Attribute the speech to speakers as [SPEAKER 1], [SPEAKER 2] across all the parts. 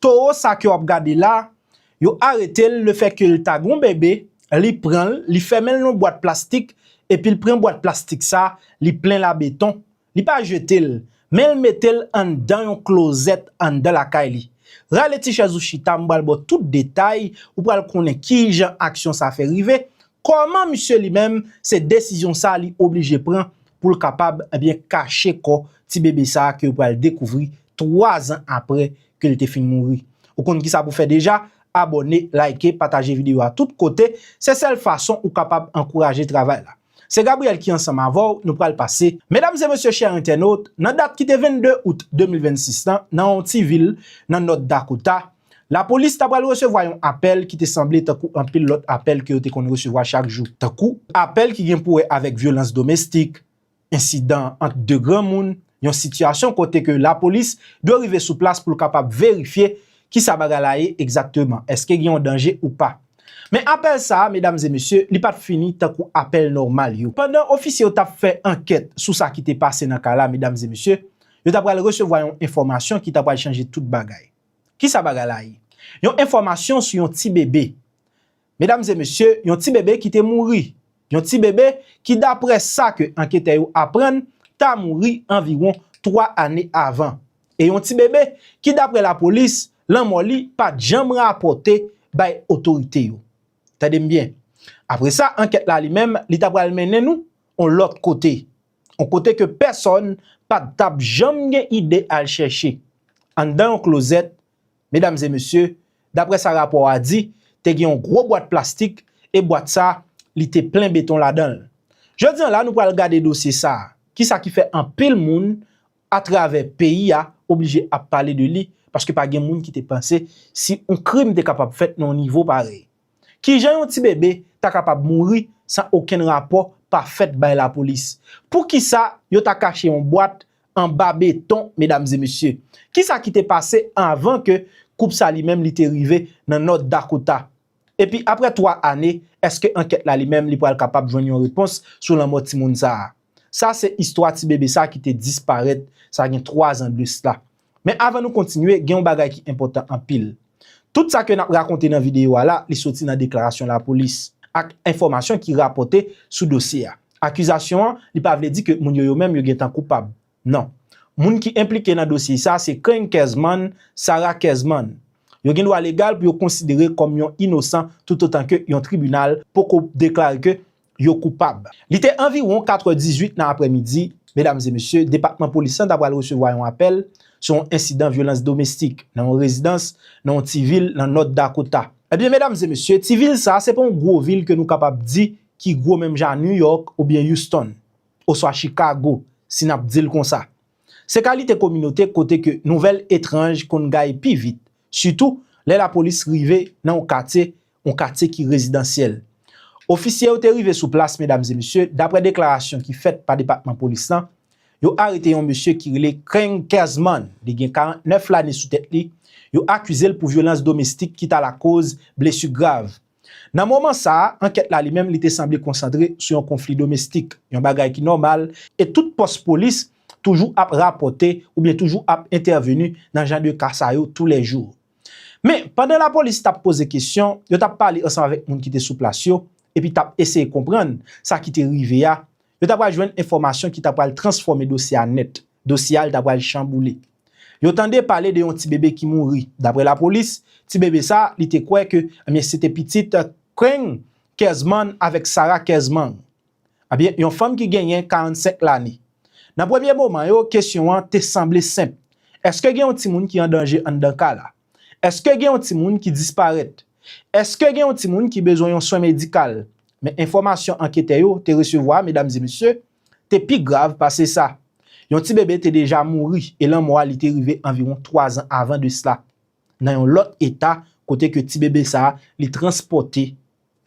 [SPEAKER 1] Toro sa ke wap gade la, yo aretel le fè kel ta gon bebe, li pranl, li fèmenl nan yon bwat plastik, epil pran bwat plastik sa, li plenl a beton, li pa jetel, menl metel anndan yon klozèt anndan lakay li. Rale ti chèz ou chita m pral baw tout detay, ou pral konnen kijan aksyon sa fè rive, kòman misye li menm se desizyon sa li oblije pran poul kapab ebyen kache kò ti bebe sa ke yo pral dekouvri 3 zan apre ke li te fin mouri. Ou konn kisa pou fè deja, abòne, like, pataje video a tout kote, se sèl fason ou kapab ankouraje travay la. Se Gabriel ki ansanm avèw, nou pral pase. Medam e mesye chè entènot, nan dat ki te 22 out 2026 lan, nan yon ti vil nan North Dakota, lapolis ta pral resevwa yon apèl ki te sanble tankou anpil lòt apèl ke yo te konn resevwa chak jou, tankou apèl ki gen pou wè avèk vyolans domestik, Ensidan ant 2 granmoun, yon sitiyasyon kote ke lapolis dwe rive sou plas pou l kapab verifye kisa bagay la ye egzakteman, eske gen yon danje ou pa. Men apèl sa a, medam e mesye, li pa t fini tankou apèl nòmal yo. Pandan ofisye yo t ap fè ankèt sou sa ki te pase nan ka la, medam e mesye, yo ta pral resevwa yon enfòmasyon ki ta pral chanje tout bagay. Kisa bagay la ye? Yon enfòmasyon sou yon ti bebe. Medam e mesye, yon ti bebe ki te mouri. Yon ti bebe ki daprè sa ke anketè yo aprann ta mouri anviwon 3 ane avan. E yon ti bebe ki daprè lapolis lanmò li pat janm rapòte bay otorite yo. Tande m byen. Apre sa ankèt la li menm li ta pral mennen nou on lòt kote. On kote ke pèsòn pat tap janm gen ide al chèche. Anndan yon klozèt Medam e mesye, daprè sa rapò a di, te gen yon gwo bwat plastik e bwat sa li te plen beton ladan l. Jodi an la nou pral gade dosye sa, ki sa ki fè anpil moun atravè peyi a oblije ap pale de li, paske pa gen moun ki te panse si yon krim te kapab fèt nan yon nivo parèy. Kijan yon ti bebe ta kapab mouri san okenn rapò pa fèt bay lapolis? Poukisa yo ta kache yon bwat anba beton medam e mesye? Kisa ki te pase anvan ke koup sa li menm li te rive nan North Dakota? Epi aprè 3 ane, eske ankèt la li menm li pral kapab jwenn yon repons sou lanmò timoun sa a? Sa se istwa ti bebe sa ki te disparèt sa gen 3 zan de sla. Men avan nou kontinye, gen yon bagay ki enpòtan anpil. Tout sa ke n ap rakonte nan videyo a la, li soti nan deklarasyon lapolis, ak enfòmasyon ki rapòte sou dosye a. Akizasyon an, li pa vle di ke moun yo yo menm yo gen tan koupab. Non. Moun ki enplike nan dosye sa, se Keny Kezman, Sarah Kezman. Yo gen dwa legal pou yo konsidere kòm yon inosan toutotan ke yon tribinal poko deklare ke yo koupab. Li te anviwon 4 è 18 nan aprè midi, medam e mesye, depatman polis lan ta pral resevwa yon apèl sou yon ensidan vyolans domestik nan yon rezidans nan yon ti vil nan North Dakota. Ebyen medam e mesye, ti vil sa se pa yon gwo vil ke nou kapab di ki gwo menm jan a New York oubyen Houston, oswa Chicago, si nap dil konsa. Se kalite kominote kote ke nouvèl etranj konn gaye pi vit, sitou lè lapolis rive nan yon katye yon katye ki rezidansyèl. Ofisye yo te rive sou plas medam e mesye, daprè deklarasyon ki fèt pa depatman polis lan, yo arete yon mesye ki rele Kreng Kersman, li gen 49 lane sou tèt li, yo akize l pou vyolans domestik ki ta lakoz blesu grav. Nan moman sa a, ankèt la li menm li te sanble konsantre sou yon konfli domestik, yon bagay ki nòmal e tout pòs polis toujou ap rapòte oubyen toujou ap entèveni nan jan de ka sa yo tou lè jou. Men, pandan lapolis t ap poze kesyon, yo t ap pale ansanm avèk moun ki te sou plas yo, epi t ap eseye konprann sa ki te rive a, yo ta pral jwenn enfòmasyon ki ta pral transfòme dosye a nèt, dosye a l ta pral chanboule. Yo tande pale de yon ti bebe ki mouri, daprè lapolis, ti bebe sa a, li te kwè ke, ebyen, se te pitit Kring Kersman avèk Sara Kersmang. Ebyen, yon fanm ki genyen 45 lane. Nan premye moman yo, kesyon an te sanble senp, Èske gen yon timoun ki an danje anndan ka la? Èske gen yon timoun ki disparèt? Èske gen yon timoun ki bezwen yon swen medikal? Men enfòmasyon anketè yo te resevwa, medam e mesye, te pi grav pase sa. Yon ti bebe te deja mouri e lanmò a li te rive anviwon 3 zan avan de sla, nan yon lòt eta kote ke ti bebe sa li transpòte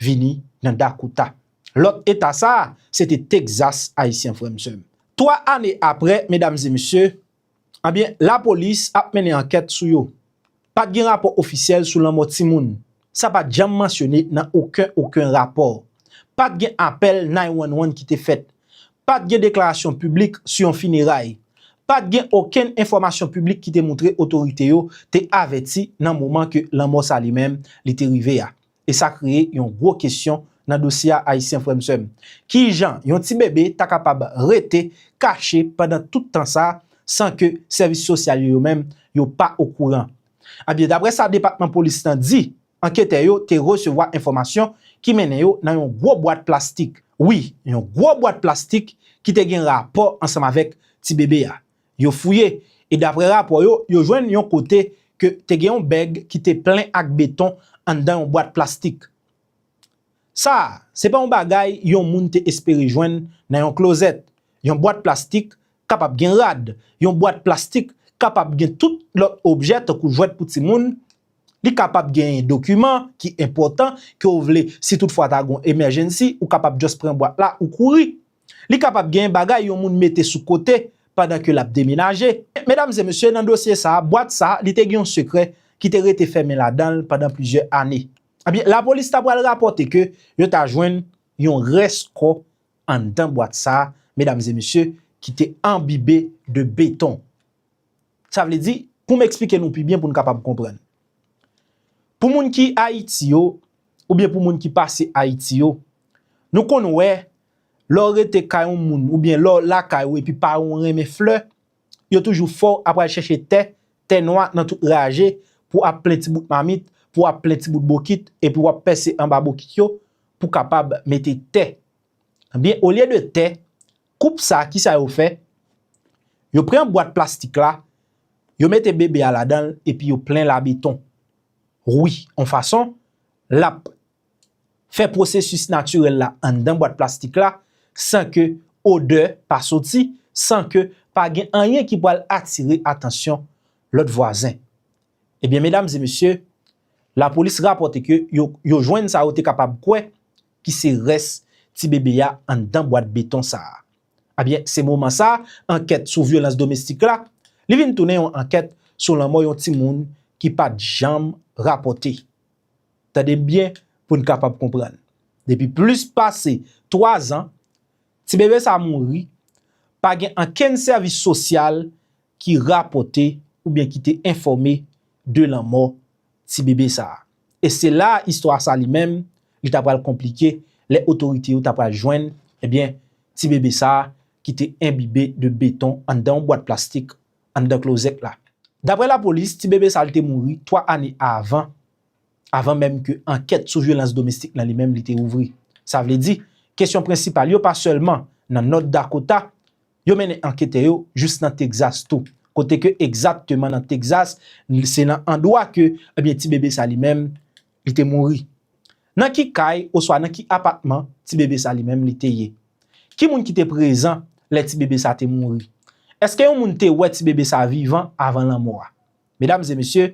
[SPEAKER 1] vini nan Dakota. Lòt eta sa a, se te Texas, Ayisyen frè m sè m. Twa ane apre, medam e mesye, anbyen lapolis ap mennen ankèt sou yo. Pa t gen rapò ofisyèl sou lanmò timoun. Sa pa t janm mansyone nan oken oken rapò. Pa t gen apèl 911 ki te fèt. Pa t gen deklarasyon piblik sou yon fineray. Pa t gen okenn enfòmasyon piblik ki te moutre otorite yo te avèti nan moman ke lanmò sa li menm li te rive a. e sa kreye yon gwo kesyon nan dosye a ayisyen frè m sè m. Kijan yon ti bebe ta kapab rete kache pandan tout tan sa san ke sèvis sosyal yo yo menm yo pa okouran. Ebyen daprè sa depatman polis lan di anketè yo te resevwa enfòmasyon ki mennen yo nan yon gwo bwat plastik, wi yon gwo bwat plastik ki te gen rapò ansanm avèk ti bebe a. Yo fouye, e daprè rapò yo, yo jwenn yon kote ke te gen yon bèg ki te plen ak beton anndan yon bwat plastik. Sa a, se pa yon bagay yon moun te espere jwenn nan yon klozèt. Yon bwat plastik kapab gen rad, yon bwat plastik kapab gen tout lòt objè tankou jwèt pou timoun, li kapab genyen dokiman ki enpòtan ke w vle si tout fwa ta gen yon emèjennsi, ou kapab just pran bwat la ou kouri. Li kapab gen bagay yon moun mete sou kote pandan ke lap demenaje. Medam e mesye, nan dosye sa, bwat sa, li te gen yon sekrè ki te rete fèmen ladanl pandan plizyè ane. Ebyen, lapolis ta pwal rapòte ke yo ta jwenn yon rès kò anndan bwat sa, medam e mesye, ki te anbibe de beton. Sa vle di, pou m eksplike nou pi byen pou n kapab konprann. Pou moun ki Ayiti yo, oubyen pou moun ki pase Ayiti yo, nou konn wè, lè w rete kay yon moun oubyen lè w lakay ou epi paran w renmen flè, yo toujou fè w ap al chèche tè, tè nwa nan tout raje, pou ap plen ti bout mamit, pou ap plen ti bout bokit, epi w ap pèse anba bokit yo, pou kapab mete tè. Ebyen, olye de tè, Koup sa kisa yo fè? Yo pran bwat plastik la, yo mete bebe a ladanl epi yo plen la beton. Wi, on fason, lap fè pwosesis natirèl la anndan bwat plastik la, san ke odè pa soti, san ke pa gen anyen ki pwal atire atansyon lòt vwazen. Ebyen medam e mesye, lapolis rapòte ke yo jwenn sa yo te kapab kwè, ki se rès ti bebe a anndan bwat beton sa a. Ebyen, se moman sa, ankèt sou vyolans domestik la, li vin tounen yon ankèt sou lanmò yon timoun ki pa t janm rapòte. Tande m byen pou n kapab konprann. Depi plis pase 3 zan, ti bebe sa a mouri, pa gen ankenn sèvis sosyal ki rapòte oubyen ki te enfòme de lanmò ti bebe sa a. E se la a istwa sa li menm, li ta pral konplike lè otorite yo ta pral jwenn, ebyen, ti bebe sa a ki te enbibe de beton anndan yon bwat plastik anndan klozèt la. Daprè lapolis, ti bebe sa a li te mouri 3 ane avan, avan menm ke ankèt sou vyolans domestik lan li menm li te ouvri. Sa vle di, kesyon prensipal yo pa sèlman nan North Dakota, Yo mennen anketè yo jous nan Texas tou, kote ke egzakteman nan Texas, se nan andwa ke ebyen ti bebe sa li menm li te mouri. Nan ki kay oswa nan ki apatman ti bebe sa li menm li te ye? Ki moun ki te prezan lè ti bebe sa te mouri? Eske yon moun te wè ti bebe sa vivan avan lanmò a? Medam e mesye,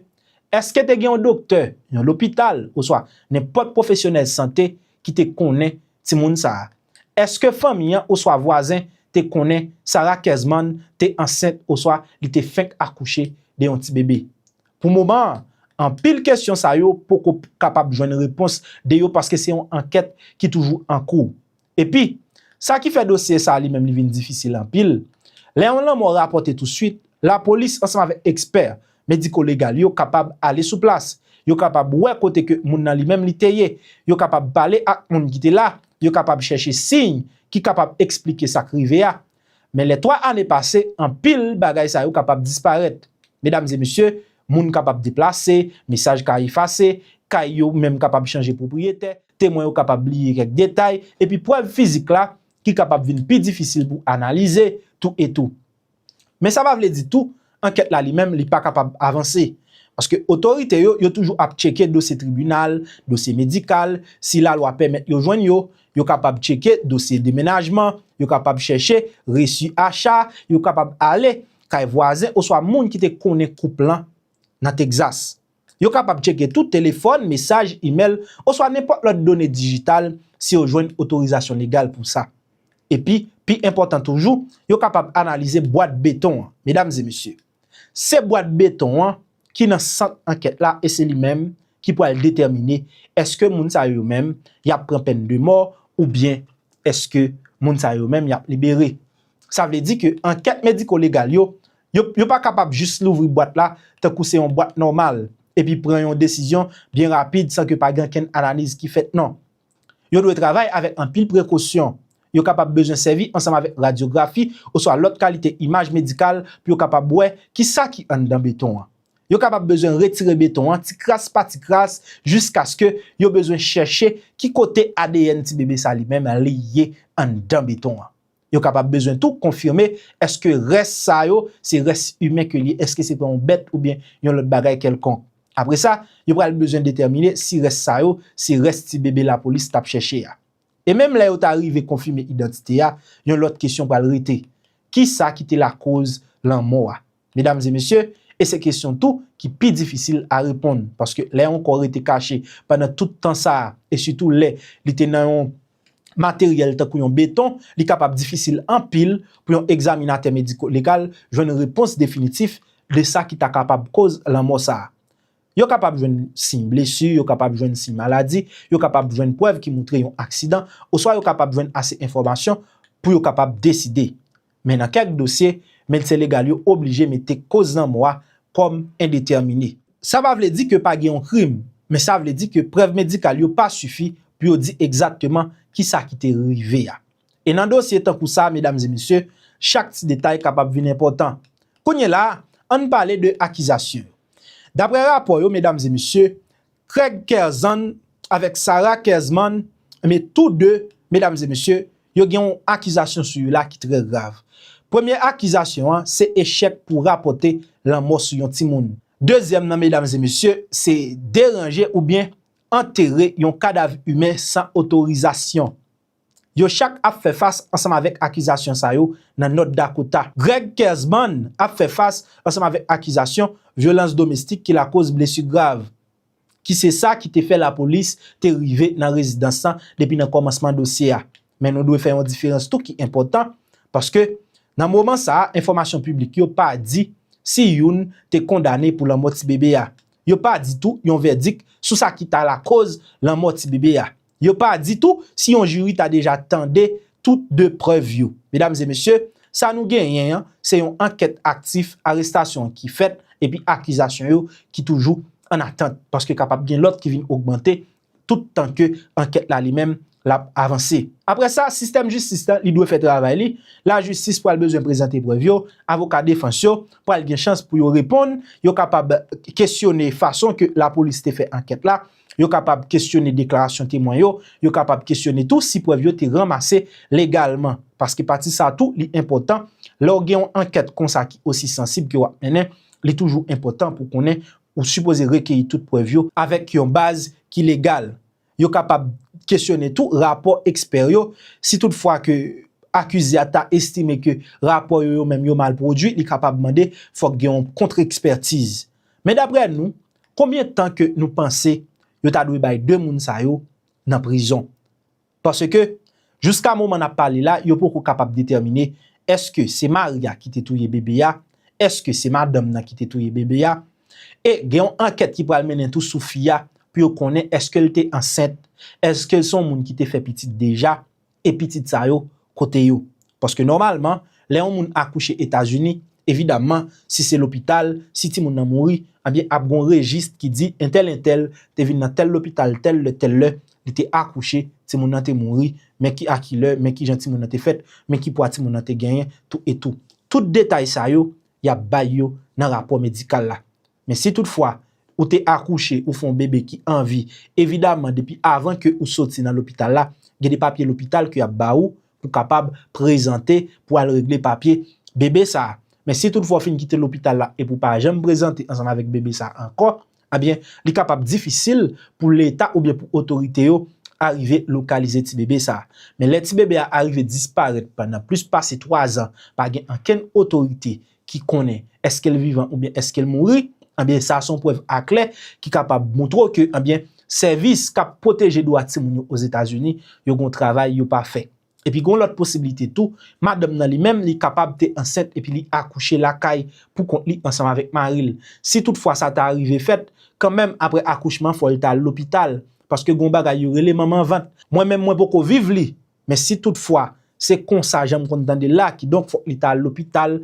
[SPEAKER 1] èske te gen yon doktè, yon lopital oswa nenpòt pwofesyonèl sante ki te konnen timoun sa a? Èske fanmi an oswa vwazen te konnen Sarah Kesman te ansent oswa li te fenk akouche de yon ti bebe? Pou moman an, anpil kesyon sa yo poko kapab jwenn repons de yo paske se yon ankèt ki toujou an kou. Epi, sa ki fè dosye sa a li menm li vin difisil anpil, lè yon lanmò rapòte tousuit, lapolis ansanm avèk ekspè mediko-legal yo kapab ale sou plas, yo kapab wè kote ke moun nan li menm li te ye, yo kapab pale ak moun ki te la, yo kapab chèche siy ki kapab eksplike sa k rive a, Men lè 3 ane pase, anpil bagay sa yo kapab disparèt. Medam e mesye, moun kapab deplase, mesaj ka efase, kay yo menm kapab chanje pwopriyetè, temwen yo kapab bliye kèk detay, epi prèv fizik la ki kapab vin pi difisil pou analize tou etou. Men sa pa vle di tou, Ankèt la li menm li pa kapab avanse. Paske otorite yo, yo toujou ap tcheke dosye tribinal, dosye medikal, si lalwa pèmèt yo jwenn yo, yo kapab tcheke dosye demenajman, yo kapab chèche resi acha, yo kapab ale kay vwazen oswa moun ki te konnen koup lan nan Texas. Yo kapab tcheke tou telefòn, mesaj, imèl, oswa nenpòt lòt done dijital si yo jwenn otorizasyon legal pou sa. Epi, pi enpòtan toujou, yo kapab analize bwat beton an. Medam e mesye, se bwat beton an ki nan sant ankèt la e se li menm ki pral detèmine èske moun sa yo yo menm y ap pran pèn de mò oubyen èske moun sa yo yo menm y ap libere. Sa vle di ke ankèt mediko-legal yo, yo, yo pa kapab jis louvri bwat la tankou se yon bwat nòmal, epi pran yon desizyon byen rapid san ke pa gen okenn analiz ki fèt, non. Yo dwe travay avèk anpil prekosyon. Yo kapab bezwen sèvi ansanm avèk radyografi oswa lòt kalite imaj medikal pou yo kapab wè ki sa ki anndan beton an. Yo kapab bezwen retire beton an ti kras pa ti kras jiskaske yo bezwen chèche ki kote adn ti bebe sa li menm li ye anndan beton an. Yo kapab bezwen tou konfime èske rès sa yo se rès imen ke li ye, èske se te yon bèt oubyen yon lòt bagay kèlkonk. Apre sa, yo pral bezwen detèmine si rès sa yo se rès ti bebe lapolis t ap chèche a. E menm lè yo ta rive konfime idantite a, yon lòt kesyon pral rete, kisa ki te lakoz lanmò a? Medam e mesye, e se kesyon tou ki pi difisil a reponn, paske lè yon kò rete kache pandan tout tan sa a, e sitou lè li te nan yon materyèl tankou yon beton, li kapab difisil anpil pou yon egzaminatè mediko-legal jwenn repons definitif de sa ki ta kapab koz lanmò sa a. Yo kapab jwenn siy blesi, yo kapab jwenn siy maladi, yo kapab jwenn prèv ki moutre yon aksidan, oswa yo kapab jwenn ase enfòmasyon pou yo kapab deside. Men nan kèk dosye, medsen legal yo oblije mete koz lanmò a kòm endetèmine. Sa pa vle di ke pa gen yon krim, men sa vle di ke prèv medikal yo pa sifi pou yo di egzatteman kisa ki te rive a. E nan dosye tankou sa, medam e mesye, chak ti detay kapab vin enpòtan. Kounyela a, ann pale de akizasyon yo. Daprè rapò yo, medam e mesye, Craig Kerzan avèk Sarah Kerzman, enben tou 2, medam e mesye, yo gen yon akizasyon sou yo la ki trè grav. Premye akizasyon an, se echèk pou rapòte lanmò sou yon timoun. Dezyèm nan medam e mesye, se deranje oubyen antere yon kadav imen san otorizasyon. Yo chak ap fè fas ansanm avèk akizasyon sa yo nan North Dakota. Greg Kersman ap fè fas ansanm avèk akizasyon vyolans domestik ki lakoz blesu grav, ki se sa ki te fè lapolis te rive nan rezidans lan depi nan kòmansman dosye a. Men nou dwe fè yon diferans tou ki enpòtan, paske nan moman sa a enfòmasyon piblik yo pa di si youn te kondane pou lanmò ti bebe a. Yo pa di tou yon vèdik sou sa ki ta lakoz lanmò ti bebe a. Yo pa di tou si yon jiri ta deja tande tout 2 prèv yo. Medam e mesye, sa nou genyen an, se yon ankèt aktif, arestasyon ki fèt epi akizasyon yo ki toujou an atant. Paske kapab gen lòt ki vin ogmante tout tan ke ankèt la li menm l ap avanse. Aprè sa, sistèm jistis la li dwe fè travay li, lajistis pral bezwen prezante prèv yo, avoka defans yo pral gen chans pou yo reponn, yo kapab kesyone fason ke lapolis te fè ankèt la, Yo kapab kesyone deklarasyon temwen yo, yo kapab kesyone tou si prèv yo te ranmase legalman. Paske pati sa tou li enpòtan, lè w gen yon ankèt konsa ki osi sansib ke w ap mennen, li toujou enpòtan pou konnen ou sipoze rekeyi tout prèv yo avèk yon baz ki legal. Yo kapab kesyone tou rapò ekspè yo, si tout fwa ke akize a ta estime ke rapò yo yo menm yo mal pwodui, li kapab mande fòk gen yon kontrekspètiz. Men daprè nou, Konbyen tan ke nou panse yo ta dwe bay 2 moun sa yo nan prizon? Paske jouska moman nap pale la yo poko kapab detèmine eske se mari a ki te touye bebe a, eske se madanm nan ki te touye bebe a, e gen yon ankèt ki pral mennen tou sou fi a pou yo konnen eske l te ansent, eske l se yon moun ki te fè pitit deja, E pitit sa yo kote yo? Paske nòmalman lè yon moun akouche etazini evidamman si se lopital si timoun nan mouri ebyen ap gon rejis ki di entèl entèl te vin nan tèl lopital tèl lè tèl lè li te akouche timoun nan te mouri men ki a ki lè men kijan timoun nan te fèt men ki pwa timoun nan te genyen tou etou tout detay sa yo yap bay yo nan rapò medikal la. Men si tout fwa ou te akouche ou fon bebe ki anvi, evidaman depi avan ke ou soti nan lopital la, gen de papye lopital ke yap ba ou pou kapab prezante pou al regle papye bebe sa. Men si tout fwa ou fin kite lopital la epi ou pa janm prezante ansanm avèk bebe sa ankò, ebyen li kapab difisil pou leta oubyen pou otorite yo arive lokalize ti bebe sa. Men lè ti bebe a arive disparèt pandan plis pase 3 zan pa gen ankenn otorite ki konnen eske l vivan oubyen eske l mouri, anbyen sa son prèv aklè ki kapab moutre w ke anbyen sèvis k ap pwoteje dwa timoun yo Ozetazini yo gon travay yo pa fè. Epi gon lòt posiblite tou, madanm nan li menm li kapab te ansent epi li akouche lakay pou kont li ansanm avèk mari l. Si tout fwa sa ta rive fèt, kanmenm aprè akouchman fò l ta al lopital, paske gon bagay yo rele manman vant. Mwen menm mwen poko viv li, men si tout fwa se konsa jan m konn tande l la, kidonk fòk li ta al lopital